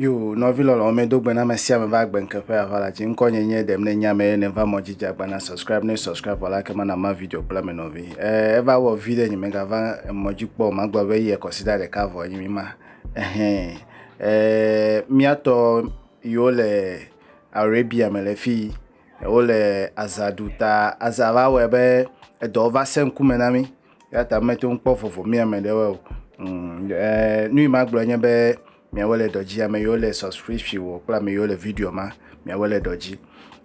Yo, nɔvi lɔlɔ ame do gbe na ame sia ame va gbe nke ƒe ava la dzi. Ŋkɔ nye nye ɖem ne nya me ne va mɔ dzi dza gbana subscribe ne subscribe vɔ la ke mana ma video kple ame nɔvi. Eh, eva wɔ vi ɖe nye me ga va mɔ dzi kpɔ ma gblɔ be yi ekɔsi da ɖeka vɔ nye mi ma. Ehɛn. Eh, miatɔ yo le Arabia me le fi. Wole aza ɖu ta aza va wɔe be edɔ va sẽ ŋkume na mí eya ta mete ŋu kpɔ vovo mía me ɖe wɔe o. Eer nu yi ma gblɔ nye be miawo le dɔ dzi ame yiwo le subscription wɔ kple ame yiwo le video ma miawo le dɔ dzi.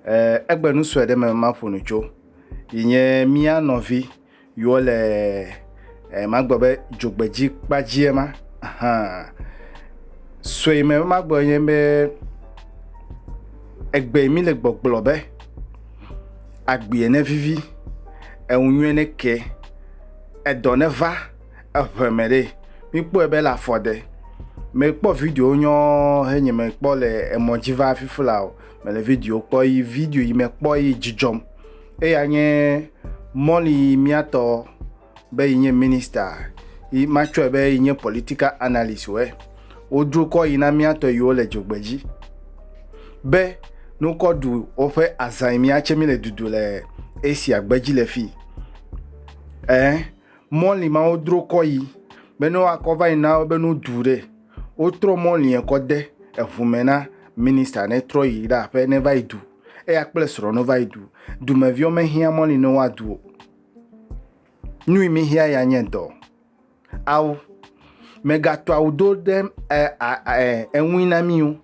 Eer egbe nu sue ɖe me maƒo nu tso yi nye mía nɔvi. yɔ le eh, magbe be dzogbedzi kpadzia ma ahan sɔe me be magbe nye be egbe mi le gbɔgblɔ be agbie ne vivi eŋu nyuie ne ke edɔ ne va eʋe me ɖe mikpɔe be le afɔ de mekpɔ video nyɔ henye mekpɔ le emɔ dzi va fifi la o mele video kpɔ yi video yi mekpɔ yi dzidzɔm Eya nye Molly yi míatɔ be yi nye minister yi matsɔe be yi nye political analyst wɛ. Wodro kɔ yi na míatɔ yiwo le dzogbe dzi be nokɔ ɖu woƒe azã yi míatse mi le dudu le Asia gbe dzi le fi. Ɛɛ, Molly ma wodro kɔ yi be ne woakɔ va yi na wo be no ɖu ɖe. Wotrɔ mɔ liɛ kɔ de eŋu mɛ na minista ne trɔ yi ɖe aƒe ne va yi du. Eya kple srɔ̃ no va yi du. Dumeviwo me hiã mɔ li ne woa du o. Nui mi hiã ya nye dɔ. Ao, me ga tɔ awu do ɖe e, a, e, eŋui na mi o.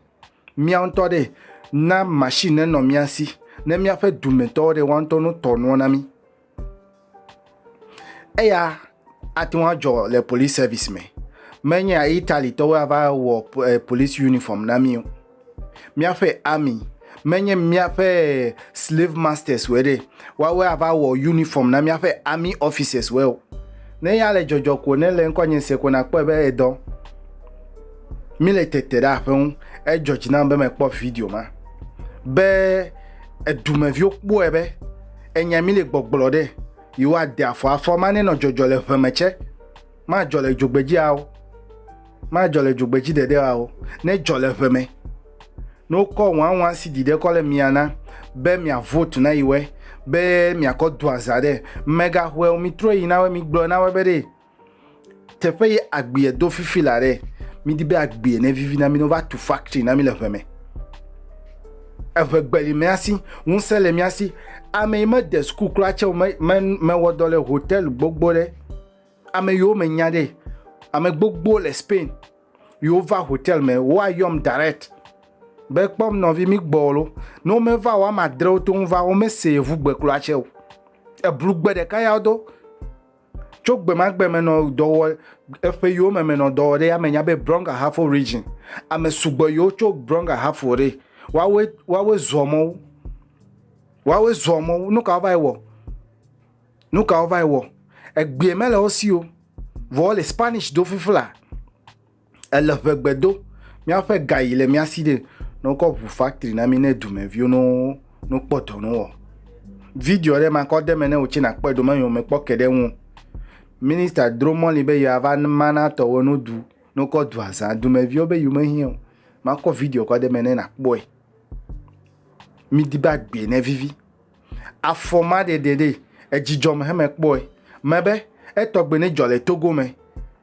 Mía ŋutɔ ɖe, na machine ne nɔ mía si. Ne míaƒe dumetɔwo ɖe woa ŋutɔ no tɔ nuɔ na mi. Eya ate ŋu adzɔ le polisi sɛvis me. Menye Italitɔwoe ava wɔ e polisi yunifɔm na mí o. Míaƒe ami, menye míaƒe e silave mastɛswoe ɖe woawoe ava wɔ yunifɔm na míaƒe ami ɔfisɛswoe o. Ne ya le dzɔdzɔ ko ne le ŋkɔ nye se ko nakpɔe be edɔ. Míle tete ɖe aƒe ŋu. Edzɔ dzi nam be mekpɔ video ma be edumeviwo kpɔe be. Enya mi le gbɔgblɔ ɖe, yewo a de afɔ afɔ ma ne nɔ jɔjɔ le ʋe me tsɛ. Ma jɔ le dzogbedzi a o. Ma jɔ le dzogbedzi ɖeɖe a o. Ne jɔ le ʋe me. Ne wo kɔ ŋwa ŋwa si ɖiɖe kɔ le mia na be mia vote na yi wɛ be mia kɔ do aza ɖe, mega hwɛ o mi trɔe yi na wɛ mi gblɔe na wɛ be ɖe. Teƒe ye agbea do fifi la ɖe, midi be agbea ne vivi na mi ne wova tu factory na mi le ʋe me. Eʋe gbe le mía si, ŋusẽ le mía si. Ame yi mede suku kura tse o, me, me, mewɔ dɔ le hotel gbogbo ɖe. Ame yiwo menya ɖe, ame gbogbo le Spain yiwo va hotel me, woayɔm direct be kpɔm nɔvi mi gbɔ lo. Ne womeva o, woame adre wote ŋu va, womese yevu gbe kura tse o. Eblu gbe ɖeka ya wodo. Tso gbemagbe me nɔ dɔwɔ eƒe yiwo me me nɔ dɔwɔ ɖe ame nya be Brong Ahafo region. Ame sugbɔ yiwo tso Brong Ahafo ɖe. Woawoe woawoe zɔ mɔ wo. Woawoe zɔ mɔ wo. Nu ka wova yi wɔ? Nu ka wova yi wɔ? Egbea mele wo si o. Vɔ wole Spanish do fiflaa. Ele ŋe gbe do, míaƒe ga yi le mía si ɖe, ne wokɔ ŋu factory na mí ne dumeviwo ne wo ne wokpɔ dɔ ne wowɔ. Video ɖe makɔ de eme ne wò tsɛ nàkpɔe ɖo menye womekpɔ ke ɖe eŋu o. Minister dro mɔli be yeava ma na tɔwo ne wodu ne wokɔ dua zã. Dumeviwo be yewo mehiã o. Makɔ video kɔ de eme ne nàkpɔe. Midi be agbee ne vivi. Afɔmaɖeɖe ɖee, edzidzɔ me hemekpɔe. Mebe etɔgbe ne dzɔ le Togo me.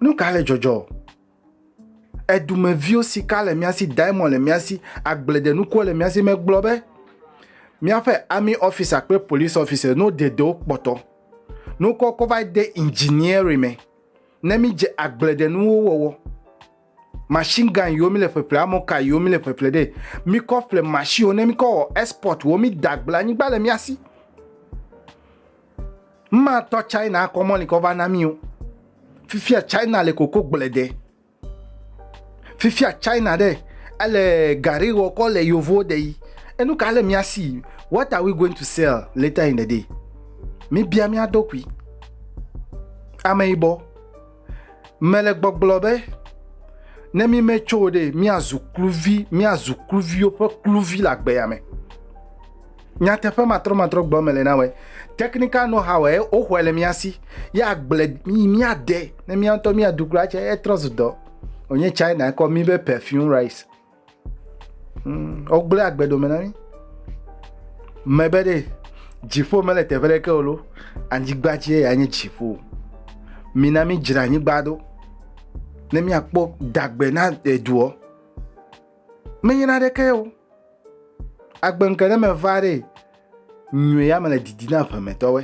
Nu ka le dzɔdzɔ? Edumeviwo sika le mía si, diamond le mía si, agbledenukuwo le mía si megblɔ be míaƒe army officer kple police officer no dedewo kpɔtɔ. Nukɔ kɔ va de engineering me ne mídze agbledenuwo wɔwɔ. machine gun yiwo mi le ƒeƒle amɔka yiwo mi le ƒeƒle ɖe mi kɔ ƒle machine wo ne mi kɔ wɔ export wo mi da gble anyigba le mia si ma tɔ china kɔ mɔli kɔ va na mi o fifia china le koko gble de fifia china ɖe ele gari wɔ kɔ le yovo de yi enu ka le mia si what are we going to sell later in the day mi bia mia dokui ame yibɔ Mele gbɔgblɔ be, ne mí metso o ɖe, míazu kluvi, míazu kluviwo ƒe kluvi le agbea me. Nyateƒe matrɔmatrɔ gbɔ mele na wɔe. Technical know how e woxɔe le mía si. Ye agble mí míade ne mía ŋutɔ míaɖu kura tse etrɔ zu dɔ. Wònye China kɔ mí be perfume rice. Mm, wogblẽ agbe dome na mí. Mebe ɖe dziƒo mele teƒe ɖeke o lo, anyigba dzie ya nye dziƒo. Mina mí dzra anyigba ɖo ne míakpɔ dagbe na eduɔ. Menye na ɖeke o. Agbe ŋke ne meva ɖe nyuie ya mele didi na ƒemetɔwe.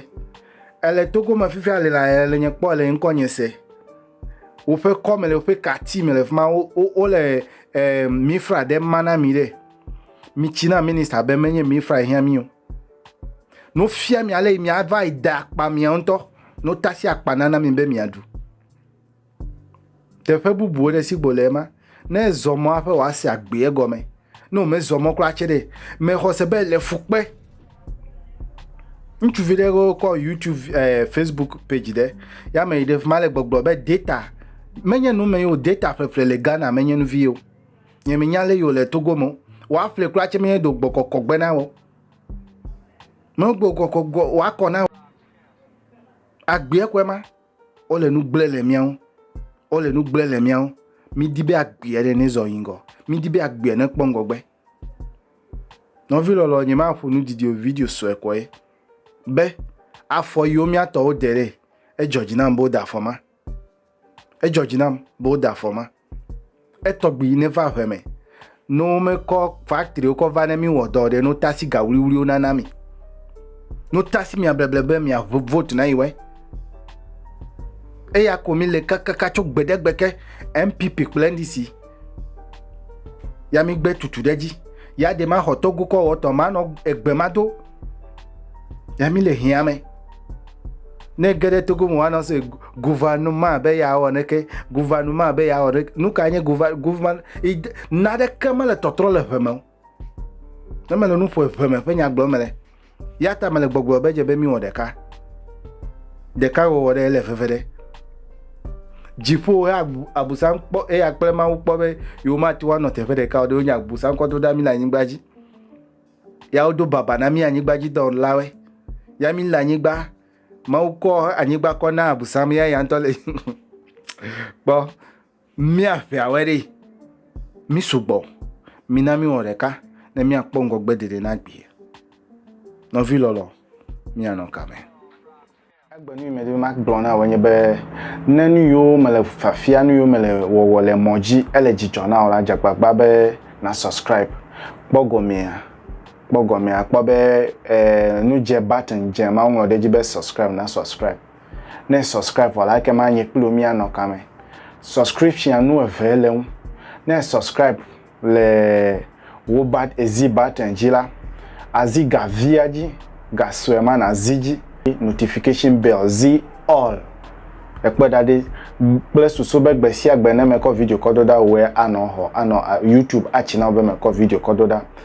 Ele togo me fifia le la ele nye kpɔ le ŋkɔ nye se. Woƒe kɔme le woƒe kati me le fi ma wole eh, mifra ɖe ma na mi ɖe mitsi na minista be menye mifra hiã mi o nofia mi ale miava yi da akpa mia ŋutɔ notasi akpa nana mi be miaɖu teƒe bubuwo ɖe si gbo le ema Ne èzɔ mɔ hafi wòase agbee egɔme. Ne wòmezɔ mɔ kura tsɛ ɖe, mexɔ se be le fu kpe. Ŋutsuvi ɖe wo kɔ YouTube eh, Facebook page ɖe ya me yi ɖe fi ma le gbɔgblɔ be data menye nu me yi o, data ƒleƒle le Ghana menye nu vi o. Nye menya le yi o le Togo me o. Woaƒle kura tsɛ menye do gbɔkɔkɔ gbe na wò. Megbo kɔkɔ gɔ woakɔ na wò. Agbee kɔe ma. Wole nu gblẽ le mía ŋu. Wole nu gblẽ le mía ŋu. Mídi be agbeɛ ɖe nɛzɔ yi ŋgɔ. Mídi be agbeɛ nekpɔ ŋgɔgbe. Nɔvi lɔlɔ, nyemaƒo nu didi o, video sue kɔ ye. Be afɔ yiwo mía tɔwo de ɖee, edzɔ dzi nam be wode afɔ ma. Edzɔ dzi nam be wode afɔ ma. Etɔgbi yi neva ŋe me. Ne womekɔ factory kɔ va ne mi wɔ dɔ o ɖe, no ta si ga wluiwlui wo nana mi. No ta si mia bleble be mia vote na yi wɛ. Eya ko mi le kakaka tso gbe ɖe gbe ke NPP kple NDC. Ya mi gbe tutu ɖe dzi. Ya de ma xɔ togu kɔ wɔ tɔ ma nɔ egbe ma do. Ya mi le hiame. Ne ge ɖe togo mo wa nɔ se Gouvernement be yeawɔ neke, gouvernement be yeawɔ neke. Nu ka nye gouvernement? Na ɖeke mele tɔtrɔ le ʋeme o. Ne mele nu ƒo ʋeme ƒe nya gblɔ mele. Ya ta mele gbɔgblɔ be dze be miwɔ ɖeka. Ɖeka wɔwɔ ɖe ele veve ɖe. Dziƒo ya abusan kpɔ eya kple mawu kpɔ be yewo ma tiwa nɔ teƒe ɖeka o ɖe wonye abusan kɔ do ɖa mi le anyigba dzi. Ya wodo baba na mi anyigba dzi dɔwɔlawe. Ya mi le anyigba Mawu kɔ anyigba kɔ na abusam ya ya ŋutɔ le kpɔ míaƒeawɔe ɖi mí sugbɔ mina míwɔ ɖeka ne míakpɔ ŋgɔgbe dede na gbi nɔvi lɔlɔ míanɔ kame egbe nu yi medi be magblɔ na wò nye be ne nu yiwo mele fafia nu yiwo mele wɔwɔ le mɔ dzi ele dzidzɔ na wò la dze agbagba be na subscribe kpɔ gɔmea kpɔ gɔmea akpɔ be e, nu dze button dze ma woŋlɔ ɖe edzi be subscribe na subscribe. Ne subscribe vɔ la ekema nye kpli wo míanɔ kame. Subscription nu eve le ŋu. Ne subscribe le wo bat ezi button dzi la, azi ga via dzi, ga sue ma nazi dzi. Notification bell zi all ekpɔe ɖa ɖi kple susu be gbe sia gbe ne mekɔ video kɔ do ɖa woe anɔ xɔ anɔ YouTube atsi na wo be mekɔ video kɔ do ɖa.